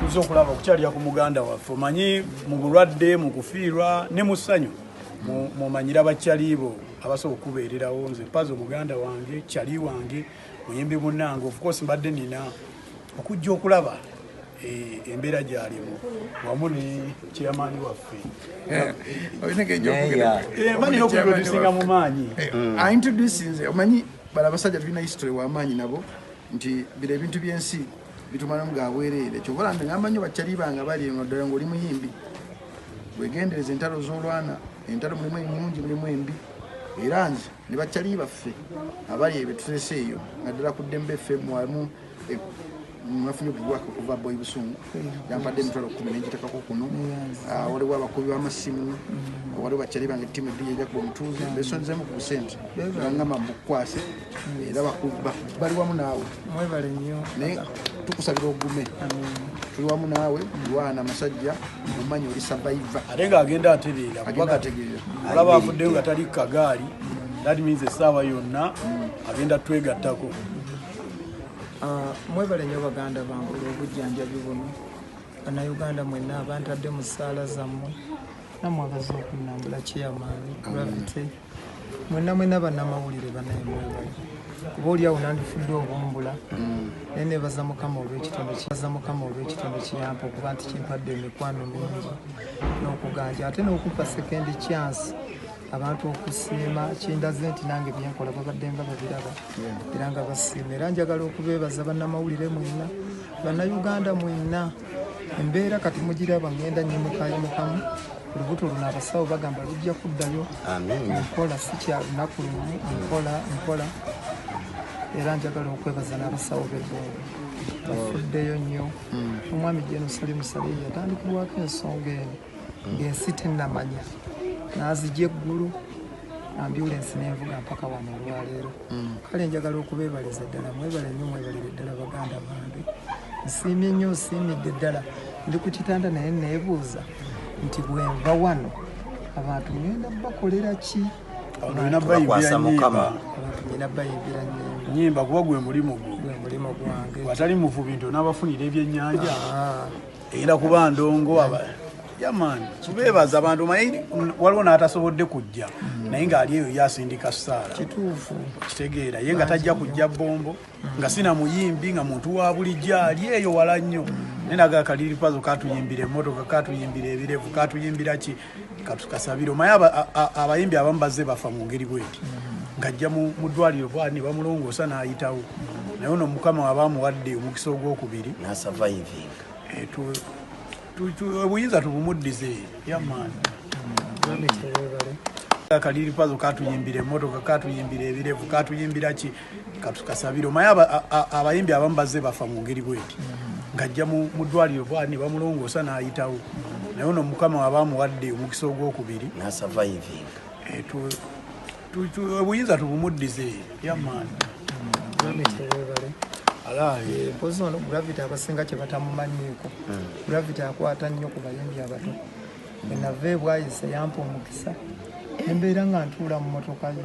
tuze okulaba okukyalira ku muganda waffe omanyi mu bulwadde mu kufiirwa ne mu ssanyu mumanyira bakyaliibo abasobola okubeererawo nze pazo muganda wange kyali wange muyimbi munange ofcourse mbadde nina okujja okulaba eh, embeera gyalimu wamu ne kyeyamaani waffe maniokusinga mu maanyi aintroducinze omanyi bala abasajja tulina history wamaanyi nabo nti bira ebintu byensi bitumalamu ga bwereere kyova olanda ngamba nnyo bakyaliba nga bali eno ddala ngaoli muyimbi wegendereza entalo z'olwana entalo mulimu ennungi mulimu embi era nze ne bakyali baffe abali ebyo tutese eyo naddala ku ddembe ffe mwamu e, nafunye obubwaka okuva boy busungu yampadde emitwalo kumi nenjitekako kuno ah, waliwo abakubi b'amasimu waliwo bakyali bange ttimu eddi yejakuba omutuuzi besonzemu ku busente angamba mbukwase era bali wamu naawe mwebale nnyo naye tukusabira ogume tuli wamu naawe lwana musajja mumanyi oli sabaiva ate nga agenda atereera kuba kategeera olaba avuddeyo nga tali kukagaali that means essaawa yonna agenda twegattako ah, mwebale nnyo baganda bange olw'obujjanjabi buno banauganda mwenna abantadde mu ssaala zammwe namwe abaze okunambula kiyamaani gravity mwena mwena banamawulire banaye mwebale kuba oli awo nandifudde obumbula mm. naye nebaza mukama olwekitonde kibaza mukama olwekitonde kiyampa okuba nti kimpadde emikwano mingi n'okuganja ate n'okumpa sekendi kyansi abantu okusiima kindaze nti nange byenkola babadde nga babiraba era nga basiima era njagala okubeebaza bannamawulire mwena bannayuganda mwena embeera kati mugiraba ngenda nyimukayimukamu lubuto luno abasawo bagamba lujja kuddayo nkola sikya lunaku lumu nkola nkola era njagala okwebaza n'abasawo bebongo bafuddeyo nnyo hmm. omwami jenosali musaleyi yatandikibwako ensonga eno hmm. ng'ensi tennamanya n'azija eggulu ambyulensi n'envuga mpaka wano olwaleero kale njagala okubebaliza ddala mwebale nyo mwebalire ddala baganda bange nsiimye nnyo nsiimidde ddala ndi ku kitanda naye neebuuza nti bwenva wano abantu ngenda bakolera ki olina bayimbira nyimba olina bayimbira nyimba nyimba kuba gwe mulimu gwo gwe mulimu gwange watali muvubi nti onabafunira ebyenyanja ah. era kuba ndongo yamani tubeebaza abantu maye waliwo n'atasobodde kujja naye ng'ali eyo yasindika saala kituufu kitegeera ye nga tajja kujja bombo nga sina muyimbi nga muntu wa bulijjo ali eyo wala nnyo naye naga kaliripazo katuyimbira emmotoka katuyimbira ebirevu katuyimbira ki katukasabire omaye abayimbi abamu bazze bafa mu ngeri bweti ng'ajja mu ddwaliro bwati ne bamulongoosa n'ayitawo naye ono mukama waba amuwadde omukisa ogwokubiri eh, obuyinza tubumuddize yamaani kaliripazo katuyimbira emotoka katuyimbira ebirevu katuyimbira ki katukasabire omaye abayimbi abamu bazze bafa mu ngeri bweti ng'ajja mu ddwaliro bwali ne bamulongoosa n'ayitawo naye ono mukama waba amuwadde omukisa ogwokubiri eh, obuyinza tubumuddize yamaani mpozi ono gravity abasinga kye batamumanyiiko hmm. gravity akwata nnyo ku bayimbi abato enava ebwayise yampa omukisa embeera nga ntuula mu motoka ye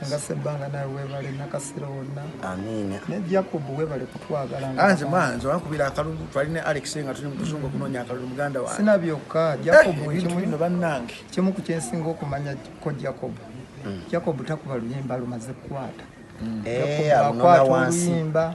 Sanga Sebbanga nawe webale nakasero wonna. Amiina. Ne Jacob webale kutwagala. Anze mwanzo wankubira akalulu twali ne Alex nga tuli mukuzungu kunonya akalulu muganda wange. Sina byokka eh, Jacob eh, ekimu bino bannange. Kimu ku kyensinga okumanya ko Jacob. Mm. Jacob takuba luyimba lumaze kukwata. Mm. Eh, akwata oluyimba.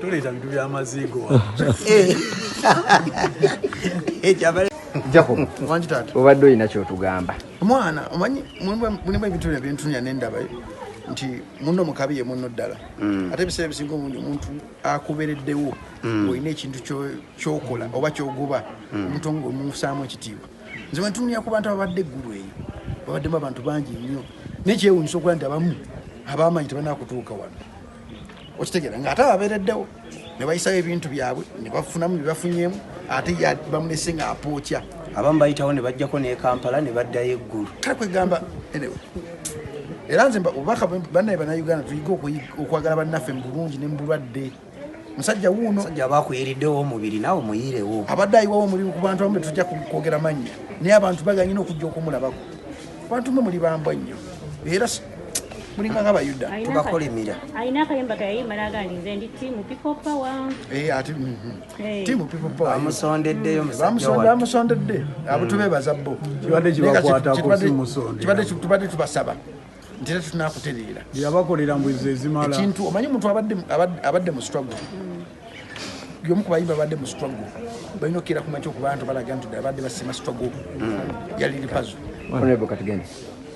toleeta bintu byamaziigo obadde olina kyotugamba mwana omanyi mulimu ebintu byo byentunya nendaba nti muno mukabi ye muno ddala mm. ate ebiseera ebisinga obundi omuntu akubereddewo mm. olina ekintu kyokola oba kyogoba mm. omuntu nga omusaamu ekitiibwa nze wentunuya ku bantu ababadde eggulu eyo babaddemu abantu bangi nnyo naye kyewunyisa okuba nti abamu abaamanyi tebanakutuuka wano okitegera nga ate ababeereddewo ne bayisawo ebintu byabwe ne bafunamu bye bafunyeemu ate bamunese nga apookya abamu bayitawo ne bajjako ne kampala ne baddayo eggulu kale kwegamba enewe era nze obubaka bannaye banauganda tuyige okwagala bannaffe mu bulungi ne mu bulwadde musajja wuuno sajja aba akuyiriddewo omubiri naawe muyirewo abadde ayiwawo omulimu ku bantu abamu betujja kwogera mannya naye abantu baganye n'okujja okumulabako abantu mwe muli bambwa nnyo era mulinga nga bayuda tubakolimira alina akayimba kayayimba naga nti nze ndi timu people power eh, ati mm, mm. Eh. timu people power bamusondeddeyo bamusondedde mm. abo tubebaza bo tubadde tubasaba ntera tetunakutereera yabakolera mbwizi ezimala ekintu omanyi omuntu abadde mu struggle yomu ku bayimba abadde mu struggle balina okukeera kumakyo okubantu balaga nti abadde basima struggle yaliripazo